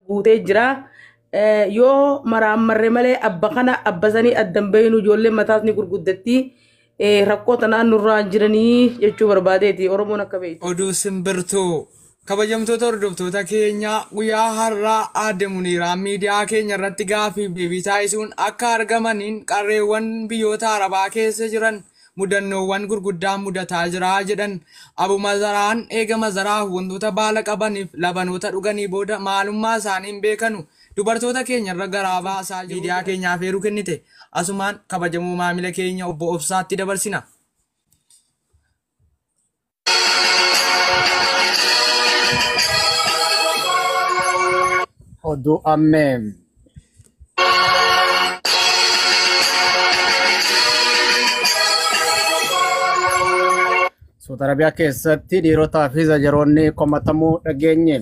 guutee jira. Eh, Yoo maraammarre malee abba kana abba sanii addan beeynu ijoolleen mataas ni gurguddatti. Eh, Rakkoo tanaan nurraan jiranii jechuu barbaadeeti Oromoon akka beeytu. Oduu simbirtuu kabajamtoota hordoftoota keenya guyyaa har'aa aadde Muniiraan miidiyaa keenya irratti gaafiif deebii taasisuun akka argamaniin qarreewwan biyyoota Arabaa keessa jiran mudannoowwan gurguddaan mudataa jira jedhan. Abu Mazaraan eega Mazaraah wantoota baala qabaniif labanoota dhuganii booda maalummaa isaanii hin beekanu, dubartoota keenya irra garaa baasaa jiru jedhan. Miidiyaa keenyaaf eeruu kennite asumaan kabajamoo maamila keenya Obbo Obsaatti dabarsina. Oduu ammee. Suuta Arabiyaa keessatti dhiirotaa fi zajaroonni komatamuu dhageenye.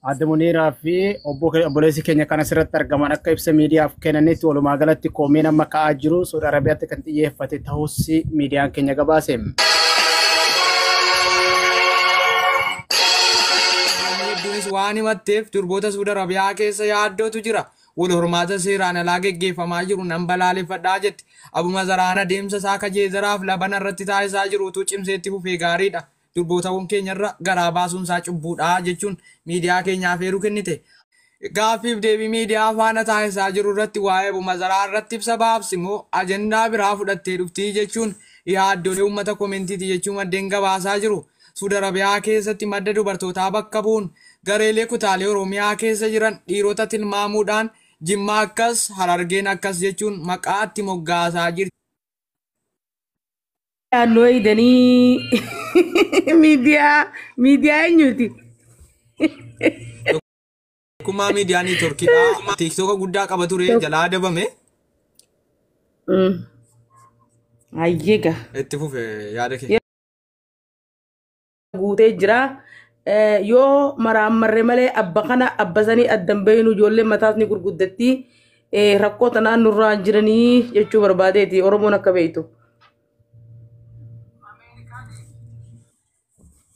Aadde Muniiraa fi obboleessi keenya kan asirratti argaman akka ibsa miidiyaaf kennanitti walumaa galatti komiin amma ka'aa jiru Saudi Arabiyaatti kan xiyyeeffate ta'us miidiyaan keenya gabaase. Hedduunis waan himatteef durboota Saudi Arabiyaa keessa yaaddootu jira. Wal hormaata seeraan alaa geggeeffamaa jiru nan balaaleffadhaa jetti. Abuma zaraan adeemsa isaa kajeezaraaf labana irratti taasisaa jirutu cimseetti fufee gaariidha. Durbootawwan keenya irra garaa baasuun isaa cubbuu dha jechuun miidiyaa keenya afeeruu kennite. Gaaffiif deebii miidiyaa faana taasisaa jiru irratti waa'ee Abumazaraa irratti ibsa baafti moo ajandaa biraa fudhattee dhufti jechuun yaaddoolee uummata komentiiti jechuu maddeen gabaasaa jiru. Suud Arabiyaa keessatti madda dubartootaa bakka bu'uun gareelee kutaalee Oromiyaa keessa jiran dhiirota tilmaamuu dhaan Jimma akkas, Harargeen akkas jechuun maqaa itti moggaasaa jirti. Naannoo eegdanii miidiyaa miidiyaa eenyuuti? Tokkummaa miidiyaa neetworkiidha. Tiiktoka guddaa qaba ture jalaa dabame Mm. Ayyega. itti fufe yaada kee. guutee jira. Eh, Yoo maraammarre malee abba kana abba sanii addan beeynu ijoolleen mataas ni gurguddatti. Eh, Rakkoo tanaan nurraa hin jiranii jechuu barbaadeeti Oromoon akka beektu.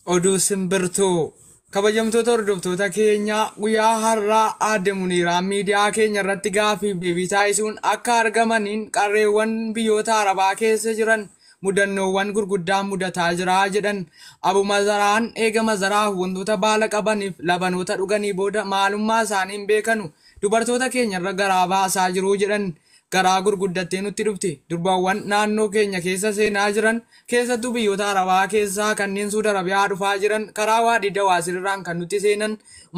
Oduu simbirtuu kabajamtoota hordoftoota keenya guyyaa har'aa aadde Muniiraan miidiyaa keenya irratti gaaffii fi deebii taasisuun akka argamaniin qarreewwan biyyoota Arabaa keessa jiran mudannoowwan gurguddaan mudataa jira jedhan. Abu Mazaraan eega Mazaraah wantoota baala qabaniif labanoota dhuganii booda maalummaa isaanii hin beekanu, dubartoota keenyarra garaa baasaa jiru jedhan. Garaa gurguddattee nutti dhufti. Durbawwan naannoo keenya keessa seenaa jiran, keessattuu biyyoota Arabaa keessaa kanneen Suud Arabiyaa dhufaa jiran karaa Waadii Dawaasirirraan kan nutti seenan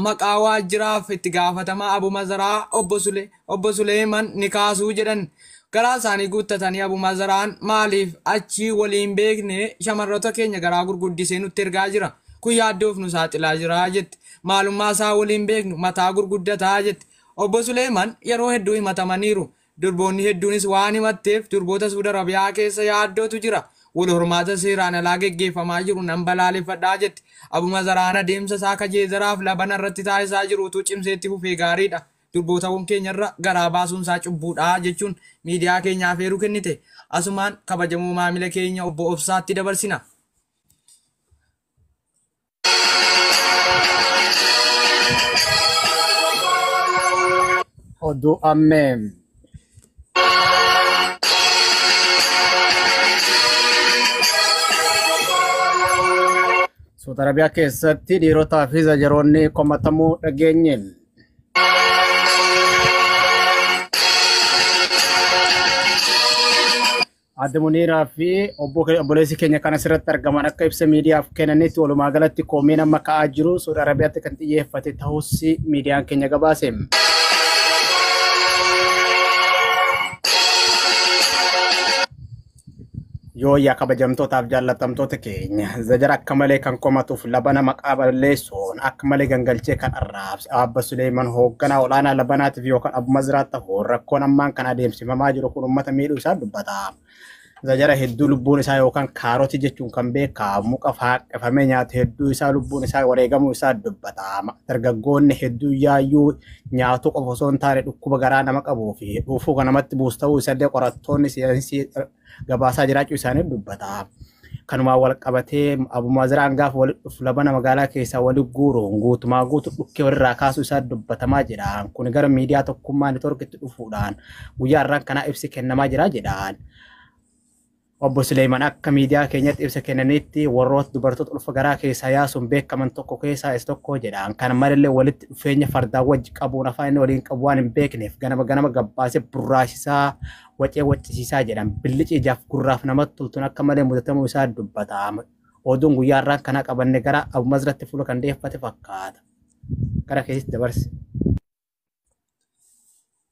maqaa waajjiraaf itti gaafatamaa Abu Mazaraah Obbo Sulee Obbo Suleeyman ni kaasu jedhan. Garaa isaanii guuttatanii Abu Mazaraan maaliif achi walii hin beekne shamarroota keenya garaa gurguddisee nutti ergaa jira. Kun yaaddoof nu saaxilaa jira jette. Maalummaa isaa walii hin beeknu mataa gurguddata jette. Obbo Suleeyman yeroo hedduu himatamaniiru. Durboonni hedduunis waan himatteef durboota Suud Arabiyaa keessa yaaddootu jira. Wal hormaata seeraan alaa geggeeffamaa jiru nan balaaleffadha jette. Abu Mazaraan adeemsa isaa ka Jeezaraaf Labana irratti taasisaa jiru utuu cimsee itti fufee gaariidha. Durbootawwan keenyarra garaa baasuunsaa cubbuudha, jechuun miidiyaa keenya afeeruu kennite. Asumaan kabajamoo maamila keenya Obbo Obsaatti dabarsina. Oduu ammee. Suuta Arabiyaa keessatti dhiirotaa fi zajaroonni komatamuu dhageenye. Adda Muniiraa fi obbo ke- obboleessi keenya kan asirratti argaman akka ibsa miidiyaaf kennanitti walumaa galatti komiin amma ka'aa jiru Suudi Arabiyaatti kan xiyyeeffate ta'us miidiyaan keenya gabaase. Yooyyaa kabajamtootaaf jaallattamtoota keenya zajara akka malee kan komatuuf labana maqaa balleessuun akka malee gangalchee kan arraabse Abba Suleeman hoogganaa olaanaa labanaatiif yookaan Abu Mazraa ta'uun rakkoon ammaan kan adeemsifamaa jiru kun uummata miidhuu isaa dubbata. Zajara hedduu lubbuun isaa yookaan kaarotii jechuun kan beekamu muka faaqqifamee nyaate hedduu isaa lubbuun isaa wareegamuu isaa dubbata. Dargaggoonni hedduu yaayyuu nyaatuu qofa osoo hin taane dhukkuba garaa nama qabuu fi dhuufuu kan namatti buusu ta'uu isallee qorattoonni saayinsii gabaasaa jiraachuu isaanii dubbata. Kanumaan wal qabatee Abu Maaziraan gaafa walitti dhufu labana magaalaa keessaa walitti guuruun guutumaa guutu dhukkee walirraa kaasuu isaa dubbatamaa jira. Kun gara miidiyaa tokkummaa neetworkitti dhufuudhaan guyyaa irraan kanaa ibsi kennamaa jira jedhaan. Obbo Suleeyman akka miidiyaa keenyatti ibsa kennaniitti warroota dubartoota ulfa garaa keessaa yaasuun beekaman tokko keessaa isa tokko jedhaan. Kana malallee walitti dhufeenya fardaa wajji qabuun afaan inni waliin qabu waan hin beekneef ganama ganama gabbaasee burraasisaa wacee waccisiisaa jedhan. Billici ijaaf gurraaf namatti toltuun akka malee mudatamuu isaa dubbata. Oduun guyyaa irraan kanaa qabanne gara Abu Mazratti fuula kan deeffate fakkaata. Gara keessatti dabarse.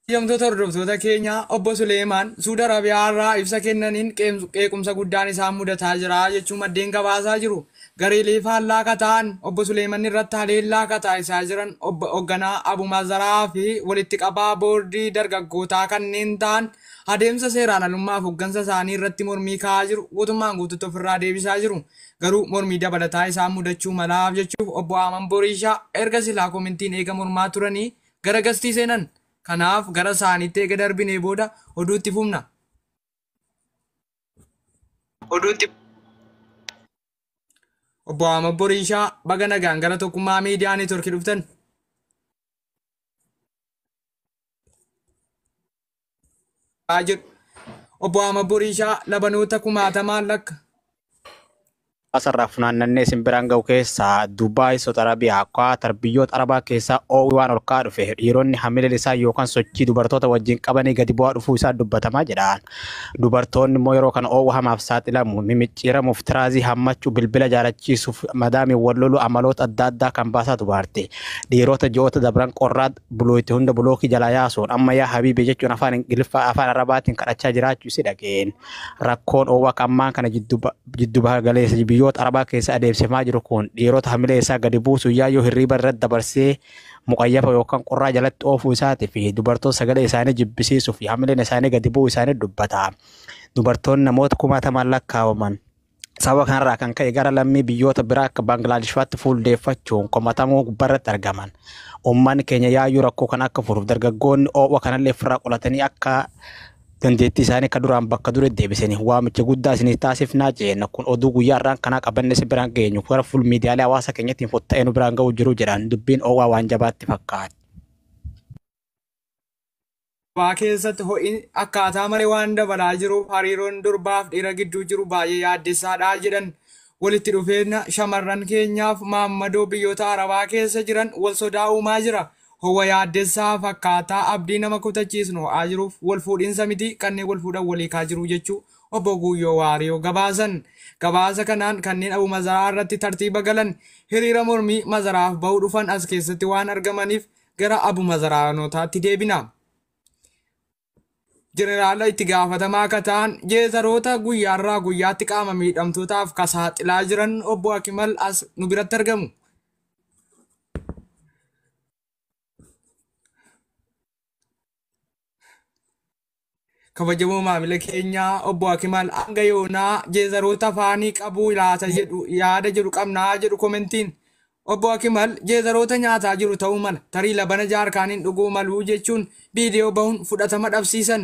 Hiyamtoota hordoftoota keenya obbo Suleemaan Suudi Arabiyaa irraa ibsa kennaniin qeequmsa guddaan isaan mudataa jira jechuun maddeen gabaasaa jiru. Gareelee faallaa akka ta'an obbo Suleeman irratti haleellaa akka taasisaa jiran obbo Ogganaa Abu Mazaraa fi walitti qabaa boordii dargaggootaa kanneen ta'an adeemsa seeraan alummaaf hoggansa isaanii irratti mormii ka'aa jiru guutummaan guututti ofirraa deebisaa jiru. Garuu mormii dabalataa isaan mudachuu malaaf jechuuf Obbo Aaman Boriishaa erga silaa komintiin eega mormaa turanii gara gastii seenan. Kanaaf gara saaniitti eega darbinee booda oduu itti fufna. Obbo Aaman Boriishaa baga nagaan gara Tokkummaa Miidiyaa Neetworkii dhuftan. haa jedhu. Obbo Ahmad Boriishaa labanoota kumaatamaan lakka. asarraa funaannannee isin biraan ga'u keessaa Dubaay, Saudi Arabia, Qatar biyyoota Arabaa keessaa oowwi waan ol ka'aa dhufe dhiironni hamileen isaa yookaan sochii dubartoota wajjin qabanii gadi bu'aa dhufuu isaa dubbatamaa jedhaan. Dubartoonni immoo yeroo kana oowwa hamaaf saaxilamu, mimicciiramuuf, tiraazii hammachuu, bilbila jaalachiisuuf, madaamiin wal loluu amaloota adda addaa kan baasaa dubaarte. Dhiirota ji'oota dabran qorraa buloo itti hunda bulookii jalaa yaasuun amma yaa habiibi jechuun afaan ingiliffaa afaan arabaatiin kadhachaa jiraachuu isi dhageen rakkoon oowwaq ammaan kana jiddu baha galeessa biyyoota arabaa keessa adeemsifamaa jiru kun dhiirota hamilee isaa gadi buusu yaa yoo hirriiba irratti dabarsee muqayyafa yookaan qorraa jalatti oofuu isaatii fi dubartoota sagalee isaanii jibbisiisuu fi hamileen isaanii gadi bu'uu isaanii dubbata. Dubartoonni namoota kumaatamaan lakkaa'aman Sababa kanarraa kan ka'e gara lammii biyyoota biraa akka Baangilaadesh fa'aatti fuuldeeffachuun komatamuu gubbarratti argaman. Uummanni keenya yaayyuu rakkoo kana akka furuuf dargaggoonni oo'a kanallee ofirraa qolatanii akka dandeettii isaanii akka duraan bakka dure deebisanii waamicha guddaa isinii taasifnaa jeenna. Kun oduu guyyaa irraan kanaa qabanne isin biraan geenyu gara fuul miidiyaalee hawaasa keenyattiin fotta'ee nu biraan ga'uu jiru jedhan dubbiin oo'aa waan jabaatti fakkaata. Durbaa keessatti ho'i akkaataa malee waan dabalaa jiruuf hariiroon durbaaf dhiira gidduu jiru baay'ee yaaddessaadha jedhan. Walitti dhufeenya shamarran keenyaaf maammadoo biyyoota Arabaa keessa jiran wal sodaa uumaa jira. Ho'a yaaddessaa fakkaataa abdii nama kutachiisnu ho'aa jiruuf wal fuudhinsa miti kanneen wal fuudhan wal hiikaa jiru jechuu Obbo Guuyyoo Waariyoo gabaasan. Gabaasa kanaan kanneen Abu Mazaraa irratti tartiiba galan hiriira mormii Mazaraaf bahu dhufan as keessatti waan argamaniif gara Abumazaraanotaatti deebina. Jeneraala itti gaafatamaa akka ta'an jeezaroota guyyaarraa guyyaatti qaama miidhamtootaaf ka saaxilaa jiran obbo Akimal as nu biratti argamu. Kabajamoo maamila keenya obbo Akimal hanga yoonaa jeezaroota afaanii qabu laata jedhu yaada jedhu qabnaa jedhu komentiin. Obbo Akimal jeezaroota nyaataa jiru ta'uu mala tarii labana jaarkaaniin dhuguu maluu jechuun viidiyoo bahuun fudhatama dhabsiisan.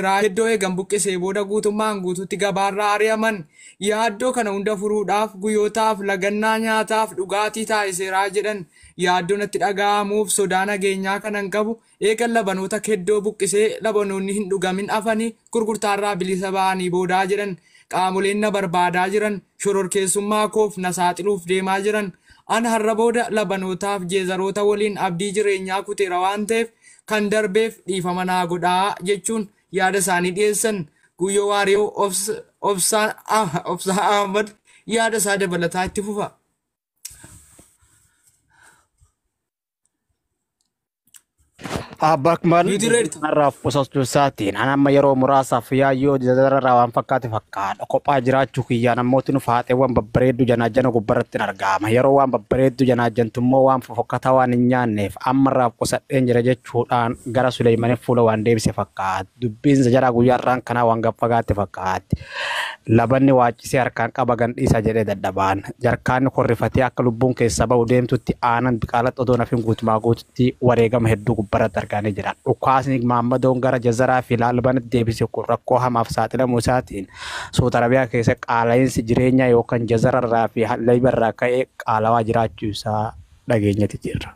irraa iddoo eegan buqqisee booda guutummaan guutuutti gabaarraa ari'aman yaaddoo kana hunda furuudhaaf guyyootaaf lagannaa nyaataaf dhugaatii taasiseeraa jedhan yaaddoo natti dhaga'amuuf sodaa nageenyaa kanan qabu eegan labanoota keddoo buqqisee labanoonni hin dhugamin afanii gurgurtaarraa bilisa ba'anii boodaa jedhan qaamoleen na barbaadaa jiran shororkeessummaa koof na saaxiluuf deemaa jiran an har'a booda labanootaaf jeezaroota waliin abdii jireenyaa kuteera waan ta'eef Kan darbeef dhiifama naa godhaa jechuun yaada isaanii dhiyeessan. Guyyoo Waariyoo Obsaa Ahmad yaada isaa dabalataa itti fufa. Abbaa Akmal Nuti ready. kanarraa qusachuu isaatiin an amma yeroo muraasaaf yaayyoo dararraa waan fakkaate fakkaadha. Kophaa jiraachuu kiyyaan ammoo tinu faaxeewwan babbareedduu janaajjana gubbarratti hin argaama. Yeroo waan babbareedduu janaajjantu immoo waan fofokkataa waan hin nyaanneef Ammarraaf qusadheen jira jechuudhaan gara Suleeymanin fuula waan deebise fakkaata. Dubbiin Zajaraa guyyaa har'aan kanaa waan gad fagaatte fakkaatti. Labanni waaccisee harkaan qaba gandhiisa jedhee dadhabaan. Jarkaanni kun rifatee akka lubbuun keessaa bahu deemtutti aanan diqaalatti odoo nafin guutumaa guututti wareegama hedduu gubbarratti argaanii jira. Dhukaasni Maammadoon gara Jazaraa fi Laalbanatti deebise kun rakkoo hamaaf saaxilamuu isaatiin Suud Arabiyaa keessa qaala'iinsi jireenyaa yookan Jazararraa fi Leybarraa ka'e qaalawaa jiraachuu isaa dhageenyati jirra.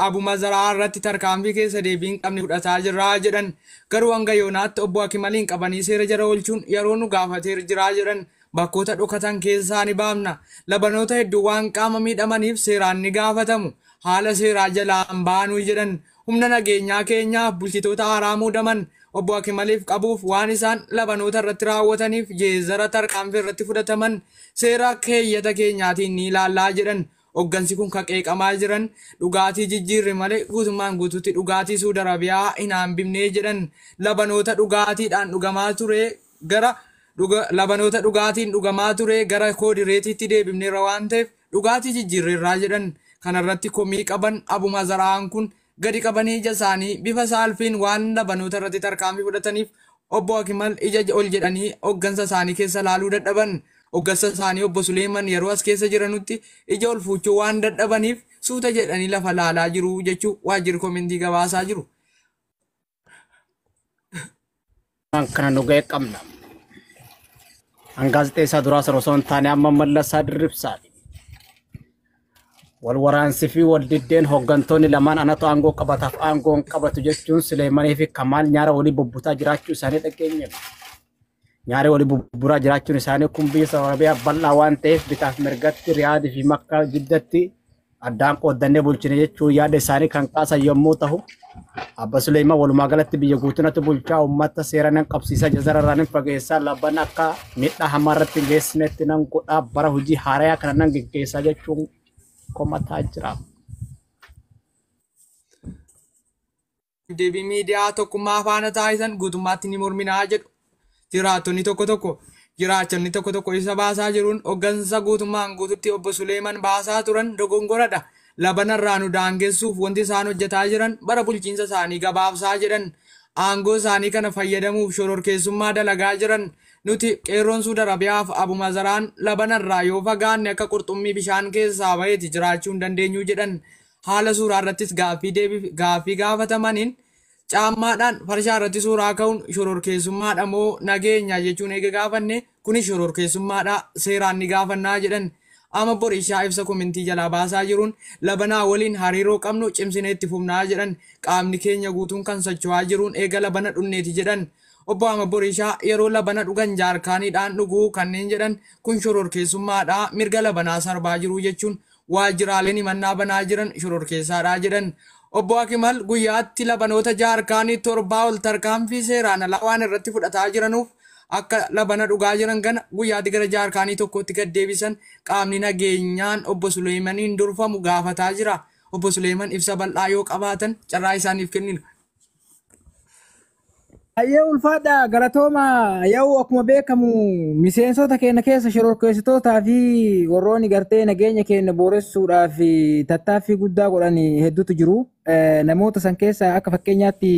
Abu Mazaraa irratti tarkaanfii keessa deebii hin qabne fudhataa jirra jedhan. Garuu hanga yoonaatti obbo Akimaliin qabanii seera jala oolchuun yeroo nu gaafateer jira jedhan. Bakkoota dhokatan keessaa ni baafna. Labanoota hedduu waan qaama miidhamaniif seeraan ni gaafatamu. Haala seeraa jalaa hin baanu jedhan. humna nageenyaa keenyaa bulchitoota haaraa muudaman obbo Akimaliif qabuuf waan isaan labanoota irratti raawwataniif jeezara tarkaanfii irratti fudhataman seera keeyyata keenyaatiin ni ilaallaa jedhan hoggansi kun ka qeeqamaa jiran dhugaatii jijjiirre malee guutummaan guutuutti dhugaatii Suud Arabiyaa hin haambifnee jedhan labanoota dhugaatiidhaan dhugamaa ture gara labanoota dhugaatiin dhugamaa ture gara koodireetiitti deebifneerra waan ta'eef dhugaatii jijjiirreerraa jedhan. Kana irratti komii qaban Abu Mazara'aan kun gadi qabanii ija isaanii bifa saalfiin waan labanoota irratti tarkaanfii fudhataniif Obbo Akimal ija ol jedhanii hoggansa isaanii keessa laaluu dadhaban. Hoggansa isaanii Obbo Suleeman yeroo as keessa jiranutti ija ol fuuchuu waan dadhabaniif suuta jedhanii lafa laalaa jiru jechuu waajjirri komentii gabaasaa jiru. Waan kana nu ga'e qabna. An gaazexeessaa duraa sana osoo hin taane amma mallasaa dirribsaati. Wal waraansii fi wal diddeen hooggantoonni lamaan anatu aangoo qabataaf aangoo hin qabatu jechuun Suleemanii fi Kamaal nyaara walii bubbutaa jiraachuu isaanii dhageenye. Nyaaree wali bubburaa jiraachuun isaanii kun biyya Saawud Arabiyaa bal'aa waan ta'eef bitaaf mirgatti Riyaadii fi Makkaa jiddatti addaan qooddannee bulchine jechuun yaada isaanii kan kaasan yommuu ta'u, Abba Suleeyman walumaa galatti biyya guutunatu bulchaa uummata seera nan qabsiisa jazara irraa nan fageessaa labban akka miidhaa hamaa irratti hin geessinetti nan godhaa bara hojii haarayaa kana nan geggeessaa jechuun komataa jira. deebii miidiyaa tokkummaa faana taasisan guutummaatti ni morminaa jedhu. Jiraattonni tokko tokko jiraachonni tokko tokko ibsa baasaa jiruun hoggansa guutummaan guututti obbo Suleeman baasaa turan dogongoradha. Labanarraa nu daangessuuf wanti isaan hojjetaa jiran bara bulchiinsa isaanii gabaabsaa jedhan. Aangoo isaanii kana fayyadamuuf shororkeessummaa dalagaa jiran. Nuti qeerroon Suud Arabiyaaf abumazaraan labanarraa yoo fagaanne akka qurxummii bishaan keessaa baheeti jiraachuu hin dandeenyu jedhan. haala suuraa irrattis gaaffii deebiif gaaffii gaafatamaniin caammaadhaan farshaa irratti suuraa ka'uun shororkeessummaadha moo nageenya jechuun eega gaafanne kunis shororkeessummaadha seeraan ni gaafannaa jedhan amma borishaa ibsa komintii jalaa baasaa jiruun labanaa waliin hariiroo qabnu cimsinee itti fufnaa jedhan qaamni keenya guutuun kan socho'aa jiruun eega labana dhunneeti jedhan obbo Ama Borishaa yeroo labana dhugan jaarkaaniidhaan dhuguu kanneen jedhan kun shororkeessummaadha mirga labanaa sarbaa jiruu jechuun waajjiraaleen himannaa banaa jiran shororkeessaadha jedhan. Obbo Akimal guyyaatti labanoota jaarkaanii torbaa ol tarkaanfii seeraan alaa waan irratti fudhataa jiranuuf akka labana dhugaa jiran kana guyyaatti gara jaarkaanii tokkootti gad deebisan qaamni nageenyaan Obbo Suleeymaniin durfamu gaafataa jira. Obbo Suleeyman ibsa bal'aa yoo qabaatan carraa isaaniif kennina. Baay'ee ulfaadha galatooma yaa'u akkuma beekamu miseensota keenya keessa shororkeessitootaa fi warroonni gartee nageenya keenya booressuudhaaf tattaaffii guddaa godhan hedduutu jiru. Eh, Namoota san keessa akka fakkeenyaatti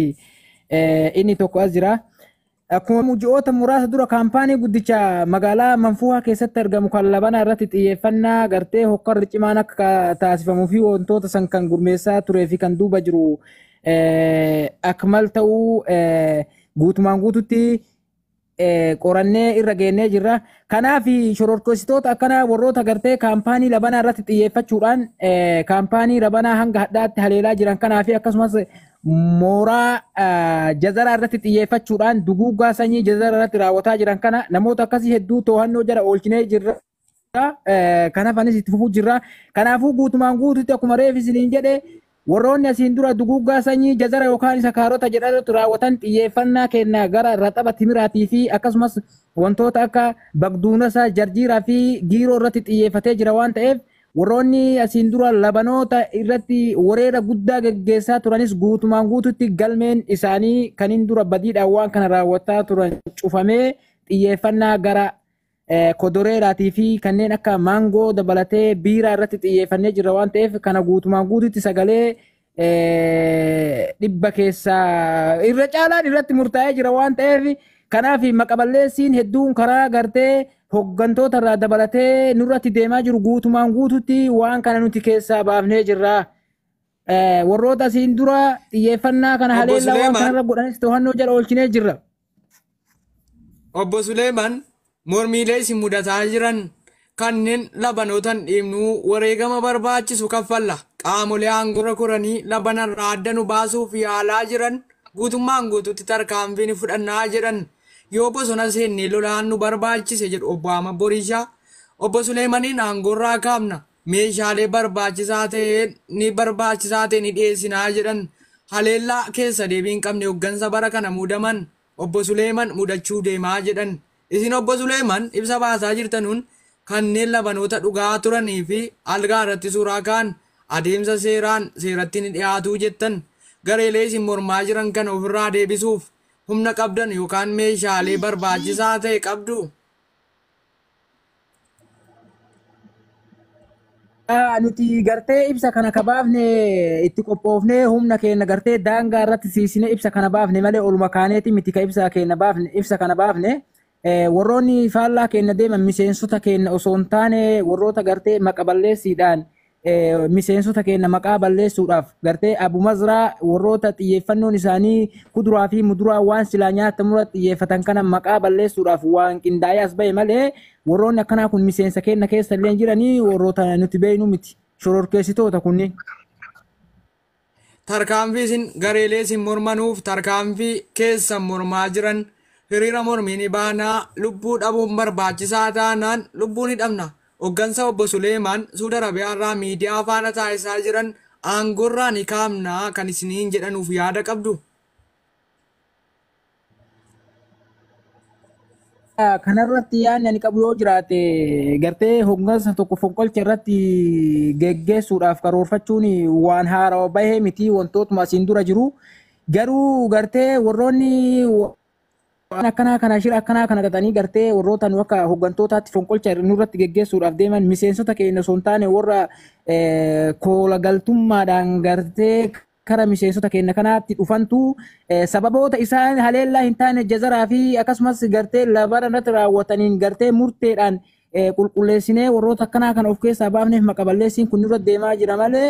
eh, inni tokko as jira. Akkuma ji'oota muraasa dura kaampaanii guddicha magaalaa Manfuuhaa keessatti argamu kan labanaa irratti xiyyeeffannaa gartee hokkarri cimaan akka taasifamuu fi wantoota san kan gurmeessaa turee fi kan duuba jiru akmal ta'uu guutumaan guututti qorannee irra geennee jirra. Kanaaf shororkeessitoota akkanaa warroota gartee kaampaanii labanaa irratti xiyyeeffachuudhaan kaampaanii labanaa hanga hadhaatti haleelaa jiran kanaa fi akkasumas mooraa jazaraa irratti xiyyeeffachuudhaan duguuggaa sanyii jazaraa irratti raawwataa jiran kana namoota akkasii hedduu to'annoo jala oolchinee jirra. Kanaaf anis itti fufuu jirra. Kanaafuu guutumaan guututti akkuma reef isiniin jedhe warroonni asiin dura duguuggaa sanyii jazara yookaan isa kaarota jedhametu raawwatan xiyyeeffannaa kenna gara raxaba timiraatii fi akkasumas wantoota akka bagduunasa jarjiiraa fi giiroo irratti xiyyeeffatee jira waan ta'eef warroonni asiin dura labanoota irratti wareera guddaa geggeessaa turanis guutumaan guututti galmeen isaanii kaniin dura badiidhaan waan kana raawwataa turan cufamee xiyyeeffannaa gara kodoreeraatii fi kanneen akka maangoo dabalatee biiraa irratti xiyyeeffannee jirra waan ta'eef kana guutumaan guututti sagalee dhibba keessaa irra caalaan irratti murtaa'ee jira waan ta'eef kanaaf maqaballeessiin hedduun karaa gartee hoggantoota irraa dabalatee nurratti deemaa jiru guutumaan guututti waan kana nuti keessaa baafnee jirra. Warroota asiin dura xiyyeeffannaa kana Obbo haleellaa waan Suleeman. kanarra godhanis to'annoo jala oolchinee jirra. Obbo Suleeman mormiilee isin mudataa jiran kanneen labanootan dhiibnuu wareegama barbaachisu kaffalla. Qaamolee aangorra koranii labanarraa adda nu baasuuf yaalaa jiran guutummaan guututti tarkaanfii ni fudhannaa jedhan. Yoo bosona seennee lolaan nu barbaachise jedhu obbo Ahmad Boriishaa. Obbo Suleemaniin aangorraa kaafna. meeshaalee barbaachisaa ta'e ni barbaachisaa ta'e ni dhiyeessinaa jedhan haleellaa keessa deebii hin qabne hoggansa bara kana muudaman obbo Suleeman mudachuu deemaa jedhan. Isin obbo Suleeman ibsa baasaa jirtanuun kanneen labanoota dhugaa turanii fi algaa irratti suuraa ka'an adeemsa seeraan seeratti ni dhiyaatuu jettan gareelee isin mormaa jiran kana ofirraa deebisuuf humna qabdan yookaan meeshaalee barbaachisaa ta'e qabdu. Ah, nuti gartee ibsa kana ka baafne itti qophoofnee humna keenya gartee daangaa irratti siisine ibsa kana baafne malee oluma kaaneeti miti ka ibsa keenya baafne ibsa kana baafne eh, warroonni faallaa keenya deeman miseensota keenya osoo hin taane warroota gartee maqa balleessiidhaan eh, miseensota keenya maqaa balleessuudhaaf gartee Abu Mazraa warroota xiyyeeffannoon isaanii kuduraa fi muduraa waan silaa nyaatamurra xiyyeeffatan kana maqaa balleessuudhaaf waan qindaa'ee as ba'e malee warroonni akkanaa kun miseensa keenya keessa illee jiranii warroota nuti beeknu miti shororkeessitoota kunniin. Tarkaanfii isin gareelee isin mormanuuf tarkaanfii keessan mormaa jiran hiriira mormii ni baana, lubbuu dhabuun barbaachisaa taanaan lubbuu ni dhabna. Hoggansa Obbo Suleemaan Suud Arabiyaarraa miidiyaa faana taasisaa jiran aangoorraa ni kaafna kan isiniin jedhanuuf yaada qabdu? Kanarratti yaadni ani qabu yoo jiraate gartee hooggansa tokko fonqolcha irratti geggeessuudhaaf karoorfachuun waan haarawa bahee miti wantootuma asiin dura jiru. Garuu gartee warroonni waan akkanaa kana shira akkanaa kana xaxanii gartee warroota nu akka hooggantootaatti fonqolcha nurratti geggeessuudhaaf deeman miseensota keenya osoo hin taane warra koola galtummaadhaan gartee kara miseensota keenna kanaatti dhufantu sababoota isaan haleellaa hin taane jazaraa fi akkasumas gartee labara irratti raawwataniin gartee murteedhaan qulqulleessinee warroota akkanaa kana of keessaa baafneef maqaballeessiin kun nurra deemaa jira malee